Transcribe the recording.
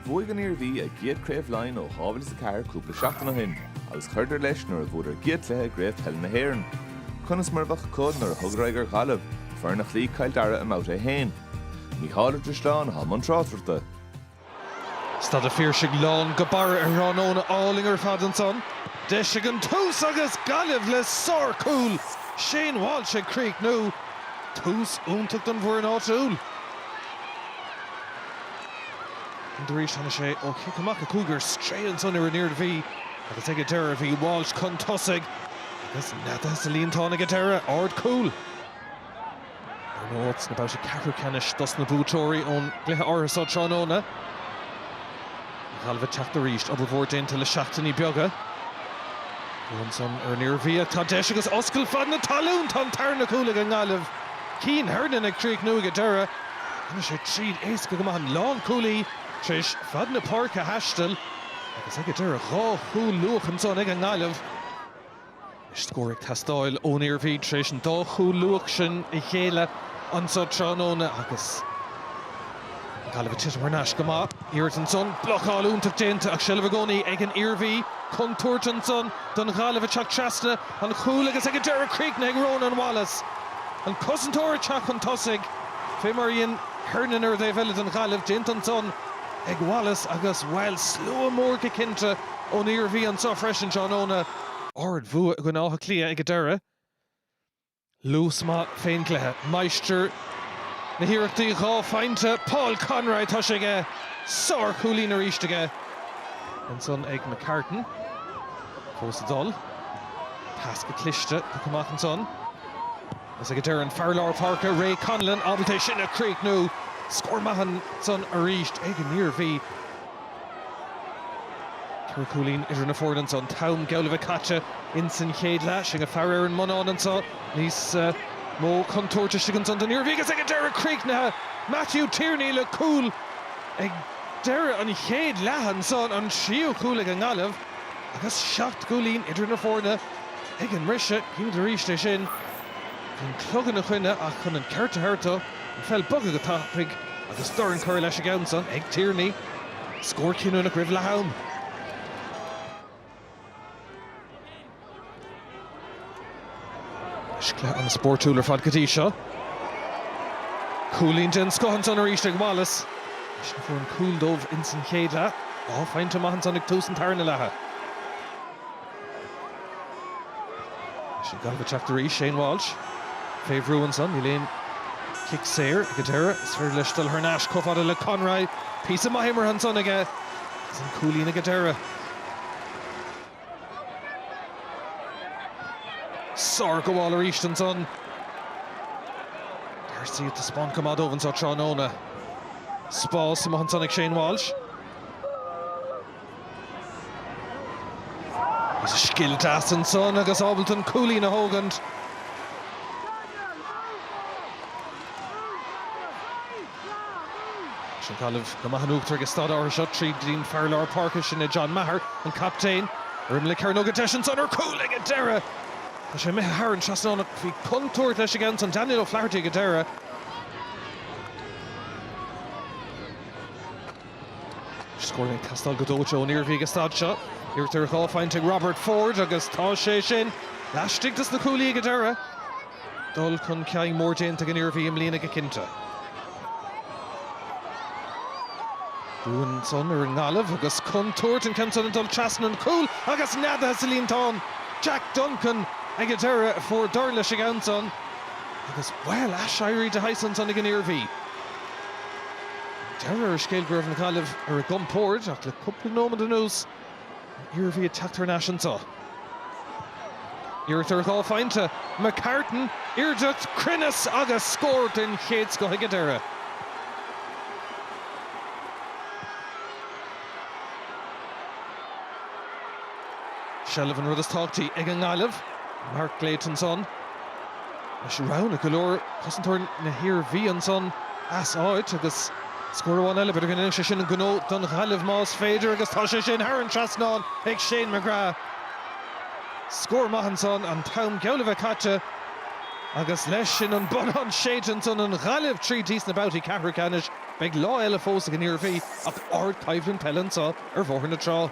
Bhuaigh an Iarmhí a gcéad Craobh Laighin ó 2004 cúpla seachtain ó shin agus chuireadar leis nuair a bhuadar a gcéad chluiche i gCraobh Peile na hÉireann. Conas mar a bheadh acu nuair a thugadar aghaidh ar Ghaillimh, foireann a chloígh Cill Dara i mBabhta 1? Mícheál Ó Drisleáin, i mbun tráchtaireachta. Staid an Phiarsaigh lán go barra ar thráthnóna álainn ar fad ansan. Deis ón tús agus Gaillimh le sárchúl Shane Walsh ag críochnú. Tús iontach don bhfoireann áitiúil. Arís tháinig sé ó chic amach a cúigear isteach ansan ar an Iarmhí agus ag an deireadh bhí Walsh chun tosaigh agus neadaithe sa líontán ag an deireadh, ard cúl. Áit sna babhtaí ceathrú ceannais dos na buaiteoirí ón gcluiche áirithe seo tráthnóna, Gaillimh ag teacht arís. Obair mhór déanta le seachtainí beaga. anuas ansan ar an Iarmhí ach tá deis agus oscailt fad na talún. Tá an tarna chúl ag an nGaillimh. Cian Hernon ag críochnú ag an deireadh. Tháinig sé tríd éasca go maith an lánchúlaí tar éis fad na páirce a thaisteal agus ag an deireadh dhá chúl luath ansan ag an nGaillimh. Scór ag teastáil ón Iarmhí tar éis an dá chúl luath sin a ghéilleadh anseo tráthnóna agus an Ghaillimh ag titim thar n-ais go maith. Iarracht ansan, blocáil iontach déanta ach seilbh i gcónaí ag an Iarmhí. Contúirt ansan don Ghaillimh ag teacht trasna an chúil agus ag an deireadh críochnaithe ag Rónán Wallace, an cosantóir ag teacht chun tosaigh, fé mar a dhein Hernon ar an taobh eile don Ghaillimh. Déanta ansan ag Wallace agus, bhuel, slua mór go cinnte ón Iarmhí anseo freisin tráthnóna. Ard-bhua ag Áth Cliath ag an deireadh. Luas maith fén gcluiche. Máistir na hiarrachtaí dhá phointe, Paul Conroy, tá sé aige! Sár-chúilín arís aige. Ansan ag McCartan. Fós ag dul. Pas go cliste, tugtha amach ansan. Agus ag an deireadh an fear lár páirce, Ray Connellan, ábalta é sin a chríochnú! Scór maith ansan arís ag an Iarmhí. Ceithre chúilín idir na foirne anso, an t-am geall a bheith caite ins an chéad leath. Sinn ag faire ar an mbonnán anso, níos mó contúirt istigh ansan don Iarmhí agus ag an deireadh críochnaithe, Matthew Tierney le cúl ag deireadh an chéad leatha anso, an tríú cúl ag an nGaillimh agus seacht gcúilín idir na foirne ag an mbriseadh. Cinnte arís ansin, an clog ina choinne ach chun an ceart a thabhairt do. An pheil bogtha go tapaidh agus dorn curtha leis an gceann san ag Tierney. Scór cinniúnach roimh leath am. Cluiche ana spóirtiúil ar fad go dtí seo. Cúilín den scoth ansan arís ag Wallace. Eisean a fuair an cúl dóibh insan chéad leath. Dhá phointe maith ansan ag tús an tarna leatha. 'Sí Gaillimh ag teacht arís, Shane Walsh fé bhrú ansan, níl aon chic saor ag an deireadh, is féidir leis dul thar n-ais chomh fada le Conroy, píosa maith imeartha ansan aige agus an cúilín ag an deireadh. Sárghabháil arís ansan. D'Arcy ag taispeáint chomh maith dóibh anseo tráthnóna. Spás amuigh ansan ag Shane Walsh. Scil deas ansan agus ábalta an cúilín a thógaint. 'S an Ghaillimh go maith in uachtar ag an staid áirithe seo tríd an bhfear lár páirce, sin é John Maher, an captaen. Ar imeall na cearnóige deis ansan ar cúl ag an deireadh. Tá sé imithe thar an trasnán ach bhí contúirt leis aige ansan, Daniel O'Flaherty ag an deireadh. Scór ag teastáil go dóite ón Iarmhí ag an staid seo. Iarracht ar dhá phointe ag Robert Forde agus tá sé sin laistigh dos na cuaillí ag an deireadh. Dul chun cinn mór déanta ag an Iarmhí i mbliana go cinnte. Brú ansan ar an nGaillimh agus contúirt an ceann san ag dul trasna an chúil agus neadaithe sa líontán! Jack Duncan ag an deireadh a fuair deireadh leis an gceann san agus, bhuel, aiséirí de shaghas ansan ag an Iarmhí. Deireadh an scéil go raibh na Gaillimhigh ar a gcompórd ach le cúpla nóimead anuas an Iarmhí ag teacht thar n-ais anso. Iarracht ar dhá phointe, McCartan, airdeacht, cruinneas agus scór den chéad scoth ag an deireadh. Seilbh an rud is tábhachtaí ag an nGaillimh, mar a déad ansan. Leis roinnt go leor cosantóirí na hIarmhí ansan as áit agus scór amháin eile, b'fhéidir go ndéanfadh sé sin an gnó don Ghaillimh más féidir agus tá sé sin thar an trasnán ag Shane McGrath. Scór maith ansan, an t-am geall le bheith caite agus leis sin an bonnán séidte ansan, an Ghaillimh tríd go dtí sna babhtaí ceathrú ceannais. Beidh lá eile fós ag an Iarmhí ach ardchoimhlint peile anso ar Bhóthar na Trá.